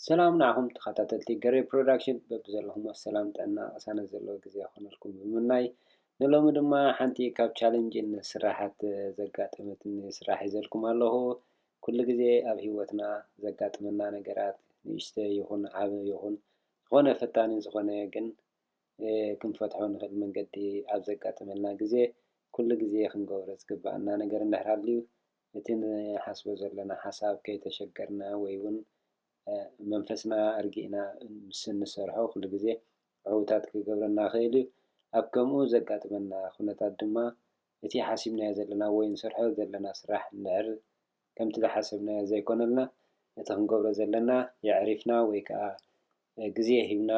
ሰላም ንዓኹም ተኸታተልቲ ገሬ ፕሮዳክሽን በብዘለኹሞ ሰላም ጥዕና ቅሳነት ዘለዎ ግዜ ክኾነልኩም ብምምናይ ንሎሚ ድማ ሓንቲ ካብ ቻለንጅን ስራሓት ዘጋጠመትኒ ስራሕ ሒዘልኩም ኣለኹ። ኩሉ ግዜ ኣብ ሂወትና ዘጋጥመና ነገራት ንእሽተ ይኹን ዓበ ይኹን ዝኾነ ፈታኒ ዝኾነ ግን ክንፈትሖ ንኽእል መንገዲ ኣብ ዘጋጥመና ግዜ ኩሉ ግዜ ክንገብሮ ዝግባኣና ነገር እንድሕር ሃልዩ እቲ ንሓስቦ ዘሎና ሓሳብ ከይተሸገርና ወይ ውን መንፈስና ኣርጊእና ምስ እንሰርሖ ኩሉ ግዜ ዕውታት ክገብረና ይኽእል እዩ። ኣብ ከምኡ ዘጋጥመና ኩነታት ድማ እቲ ሓሲብናዮ ዘለና ወይ እንሰርሖ ዘለና ስራሕ እንድሕር ከምቲ ዝሓሰብናዮ ዘይኮነልና ነቲ ክንገብሮ ዘለና የዕሪፍና ወይ ከኣ ግዜ ሂብና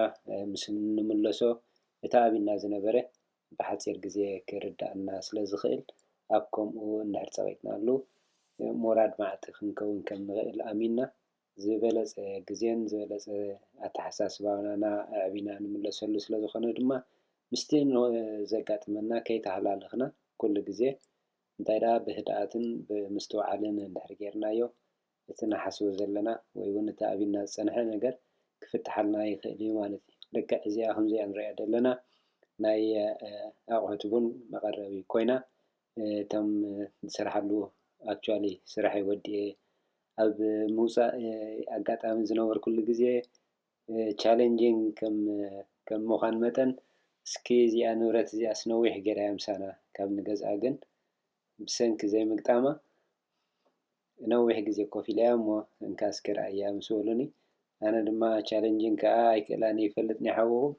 ምስ እንምለሶ እቲ ኣብ ኢድና ዝነበረ ብሓጺር ግዜ ክርድኣና ስለ ዝኽእል፣ ኣብ ከምኡ እንድሕር ጸቒጥናሉ፣ ሞራድ መዓልቲ ክንከውን ከም ንኽእል ኣሚንና፣ ዝበለጸ ግዜን ዝበለጸ ኣተሓሳስባና ኣዕቢና ንምለሰሉ ስለ ዝኾነ ድማ፣ ምስቲ ዘጋጥመና ከይተሃላለኽና ኩሉ ግዜ፣ እንታይ ደኣ ብህድኣትን ብምስትውዓልን እንድሕር ጌርናዮ፣ እቲ ንሓስቦ ዘለና ወይ ውን እቲ ኣቢና ዝጸንሐ ነገር ክፍትሓልና ይኽእል እዩ ማለት እዩ። ልክዕ እዚኣ ከምዚኣ ንርእያ ዘለና ናይ ኣቑሑት ቡን መቐረቢ ኮይና እቶም ዝሰርሓሉ actually ስርሐይ ወዲኤ ኣብ ምውጻእ ኣጋጣሚ ዝነበርኩሉ ግዜ challenging ከም ምዃን መጠን እስኪ እዚኣ ንብረት እዚኣስ ነዊሕ ጌራያ ምሳና ካብ ንገዝኣ ግን ብሰንኪ ዘይምግጣማ ንነዊሕ ግዜ ኮፍ ኢለ እያ እሞ እንካ እስከ ርኣያ ምስ በሉኒ ኣነ ድማ ቻለንጂን ከኣ ኣይክእላን ይፈልጥ ናይ ሓውኹም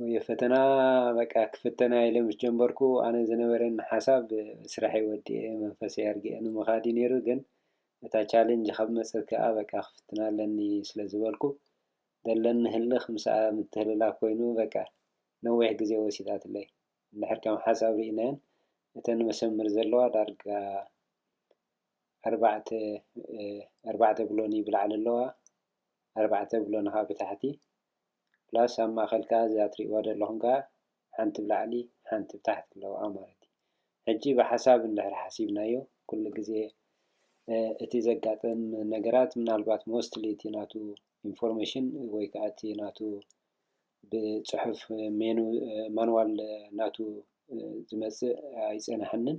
ወይ ፈተና በቃ ክፍተና ኢለ ምስ ጀንበርኩ ኣነ ዝነበረን ሓሳብ ስራሐይ ወዲኤ መንፈሰይ ኣርጊኤ ንምኻድ እዩ ነይሩ ግን እታ ቻለንጅ ካብ መጸት ከኣ በቃ ክፍትና ኣለኒ ስለ ዝበልኩ ዘለኒ ህልኽ ምስኣ ምትህልላክ ኮይኑ በቃ ነዊሕ ግዜ ወሲዳትለይ። እንድሕር ከም ሓሳብ ርኢናየን እተን መሰመር ዘለዋ ዳርጋ ኣርባዕተ ኣርባዕተ ብሎኒ ብላዕሊ ኣለዋ ኣርባዕተ ብሎኒ ከዓ ብታሕቲ ፕላስ ኣብ ማእኸል ከዓ እዛ ትሪእዋ ዘለኹም ከዓ ሓንቲ ብላዕሊ ሓንቲ ብታሕቲ ኣለዋ ማለት እዩ። ሕጂ ብሓሳብ እንድሕር ሓሲብናዮ ኩሉ ግዜ እቲ ዘጋጥም ነገራት ምናልባት ሞስትሊ እቲ ናቱ ኢንፎርሜሽን ወይ ከዓ እቲ ናቱ ብጽሑፍ ሜኑ ማንዋል ናቱ ዝመጽእ ኣይጸንሓንን።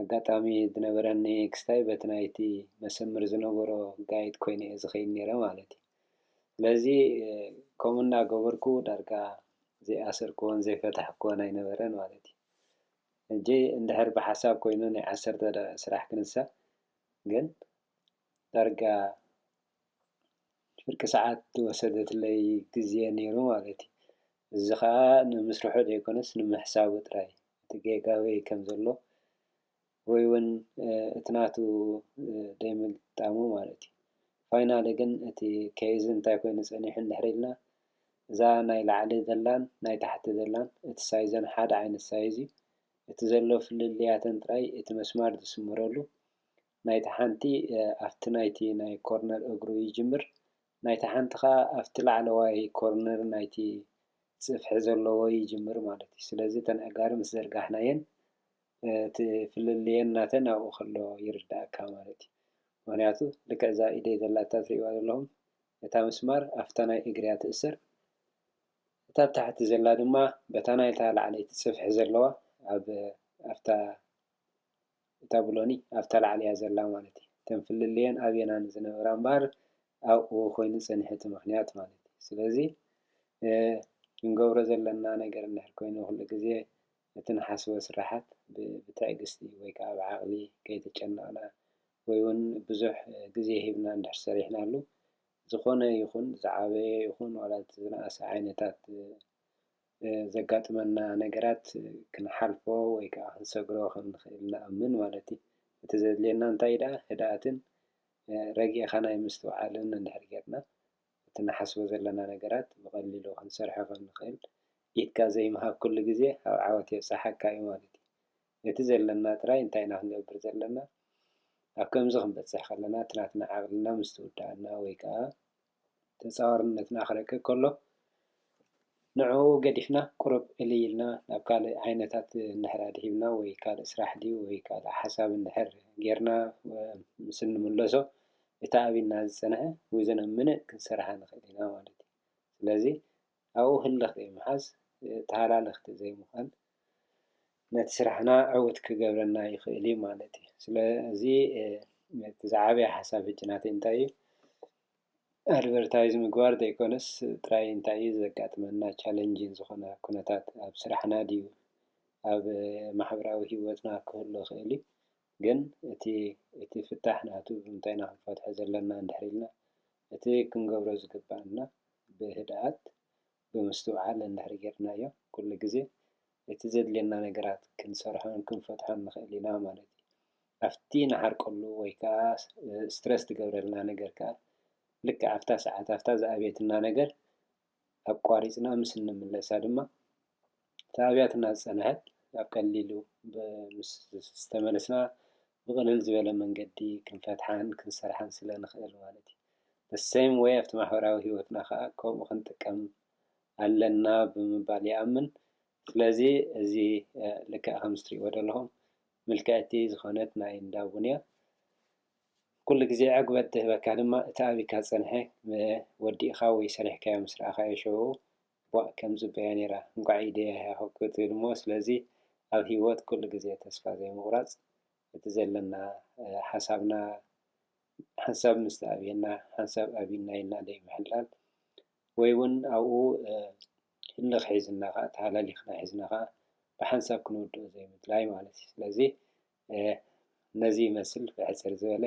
ኣጋጣሚ ዝነበረኒ ክስታይ በቲ ናይቲ መሰምር ዝነበሮ ጋይድ ኮይነ'የ ዝኸይድ ነይረ ማለት እዩ። ስለዚ ከምኡ እናገበርኩ ዳርጋ ዘይኣሰርክዎን ዘይፈታሕክዎን ኣይነበረን ማለት እዩ። ሕጂ እንድሕር ብሓሳብ ኮይኑ ናይ ዓሰርተ ደቒቕ ስራሕ ክንሳ ግን ዳርጋ ፍርቂ ሰዓት ዝወሰደትለይ ግዜ ነይሩ ማለት እዩ። እዚ ኸኣ ንምስርሑ ዘይኮነስ ንምሕሳቡ ጥራይ እቲ ጌጋ ኣበይ ከም ዘሎ ወይ እውን እቲ ናቱ ደይ ምግጣሙ ማለት እዩ። ፋይናሊ ግን እቲ ኬዝ እንታይ ኮይኑ ጸኒሑ እንድሕር ኢልና እዛ ናይ ላዕሊ ዘላን ናይ ታሕቲ ዘላን እቲ ሳይዘን ሓደ ዓይነት ሳይዝ እዩ። እቲ ዘሎ ፍልልያተን ጥራይ እቲ መስማር ዝስመረሉ ናይታ ሓንቲ ኣብቲ ናይቲ ናይ ኮርነር እግሩ ይጅምር፣ ናይታ ሓንቲ ከኣ ኣብቲ ላዕለዋይ ኮርነር ናይቲ ጽፍሒ ዘለዎ ይጅምር ማለት እዩ። ስለዚ እተን ኣእጋር ምስ ዘርጋሕናየን እቲ ፍልልየን ናተን ኣብኡ ከሎ ይርድኣካ ማለት እዩ። ምኽንያቱ ልክዕ እዛ ኢደይ ዘላታ ትርእይዋ ዘለኹም እታ ምስማር ኣብታ ናይ እግሪ እያ ትእሰር፣ እታ ኣብ ታሕቲ ዘላ ድማ በታ ናይታ ላዕለይቲ ጽፍሒ ዘለዋ ኣብ ኣብታ እታ ብሎኒ ኣብታ ላዕሊያ ዘላ ማለት እዩ እተን ፍልልየን ኣብየና ንዝነበራ እምበኣር ኣብኡ ኮይኑ ጸኒሑ እቲ ምክንያት ማለት እዩ ስለዚ ክንገብሮ ዘለና ነገር እንድሕር ኮይኑ ኩሉ ግዜ እቲ ንሓስቦ ስራሓት ብትዕግስቲ ወይ ከዓ ብዓቕሊ ከይተጨነቕና ወይ እውን ብዙሕ ግዜ ሂብና እንድሕር ሰሪሕናሉ ዝኾነ ይኹን ዝዓበየ ይኹን ዋላ እቲ ዝነኣሰ ዓይነታት ዘጋጥመና ነገራት ክንሓልፎ ወይ ከኣ ክንሰግሮ ከም እንክእል ንኣምን ማለት እዩ። እቲ ዘድልየና እንታይ እዩ ደኣ ህድኣትን ረጊእኻ ናይ ምስትውዓልን እንድሕር ጌርና እቲ ንሓስቦ ዘለና ነገራት ብቐሊሉ ክንሰርሖ ከም እንክእል ኢድካ ዘይምሃብ ኩሉ ግዜ ኣብ ዓወት የብጽሓካ እዩ ማለት እዩ። እቲ ዘለና ጥራይ እንታይ ኢና ክንገብር ዘለና ኣብ ከምዚ ክንበጽሕ ከለና እቲ ናትና ዓቕልና ምስ ትውድኣና ወይ ከኣ ተጻዋርነትና ክረቅቕ ከሎ፣ ንዕኡ ገዲፍና ቁሩብ እልይ ኢልና ናብ ካልእ ዓይነታት እንድሕር ኣድሂብና ወይ ካልእ ስራሕ ድዩ ወይ ካልእ ሓሳብ እንድሕር ጌርና ምስ እንምለሶ፣ እቲ ኣብ ኢድና ዝጸንሐ ዊዝን ኣ ምንት ክንሰርሓ ንኽእል ኢና ማለት እዩ። ስለዚ ኣብኡ ህልኽ ዘይምሓዝ፣ ተሃላልኽቲ ዘይምዃን ነቲ ስራሕና ዕዉት ክገብረልና ይኽእል እዩ ማለት እዩ። ስለዚ እቲ ዝዓበየ ሓሳብ ሕጂ ናተይ እንታይ እዩ ኣድቨርታይዝ ምግባር ዘይኮነስ ጥራይ እንታይ እዩ ዘጋጥመና ቻለንጂን ዝኾነ ኩነታት ኣብ ስራሕና ድዩ ኣብ ማሕበራዊ ሂወትና ክህሉ ይኽእል እዩ ግን እቲ እቲ ፍታሕ ናቱ ብምንታይ ኢና ክንፈትሖ ዘለና እንድሕር ኢልና እቲ ክንገብሮ ዝግብኣና ብህድኣት ብምስትውዓል እንድሕር ጌርናዮ ኩሉ ግዜ እቲ ዘድልየና ነገራት ክንሰርሖን ክንፈትሖን ንኽእል ኢና ማለት እዩ። ኣብቲ ንዓርቀሉ ወይ ከኣ ስትረስ ዝገብረልና ነገር ከኣ ልክዕ ኣብታ ሰዓት ኣብታ ዝኣብየትና ነገር ኣቋሪፅና ምስ እንምለሳ ድማ እቲ ኣብያትና ዝፀንሐት ኣብ ቀሊሉ ምስ ዝተመለስና ብቅልል ዝበለ መንገዲ ክንፈትሓን ክንሰርሓን ስለ ንክእል ማለት እዩ። the same way ኣብቲ ማሕበራዊ ህይወትና ከዓ ከምኡ ክንጥቀም ኣለና ብምባል ይኣምን። ስለዚ እዚ ልክዕ ከምዚ ትሪእዎ ዘለኹም ምልክዕቲ ዝኾነት ናይ እንዳ ቡን እያ። ኩሉ ግዜ ዕግበት ዝህበካ ድማ እቲ ኣቢካ ዝጸንሐ ወዲእካ ወይ ሰሪሕካዮ ምስ ረኣካዮ ሽዑኡ ቧእ ከም ጽበያ ኔራ እንቋዕ ኢደያያ ክትብል እሞ ስለዚ ኣብ ሂወት ኩሉ ግዜ ተስፋ ዘይምቁራጽ እቲ ዘለና ሓሳብና ሓንሳብ ምስ ተኣብየና ሓንሳብ ኣቢና ኢልና ዘይምሕላል ወይ ውን ኣብኡ ህልኽ ሒዝና ከኣ ተሃላሊኽና ሒዝና ከኣ ብሓንሳብ ክንውድኦ ዘይምድላይ ማለት እዩ ስለዚ ኤህ ነዚ ይመስል ብሕጽር ዝበለ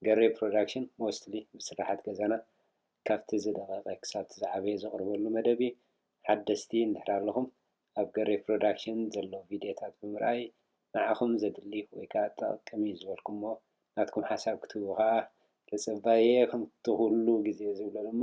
ገሬ ፕሮዳክሽን ሞስትሊ ብስርሓት ገዛና ካብቲ ዝደቐቐ ክሳብቲ ዝዓበየ ዘቕርበሉ መደብ እዩ ሓደስቲ እንድሕር ኣለኹም ኣብ ገሬ ፕሮዳክሽን ዘሎ ቪድዮታት ብምርኣይ ንዓኹም ዘድሊ ወይ ከኣ ጠቕቅም እዩ ዝበልኩሞ ናትኩም ሓሳብ ክትህቡ ከኣ ተጸባይየ ከምቲ ኩሉ ግዜ ዝብሎ ድማ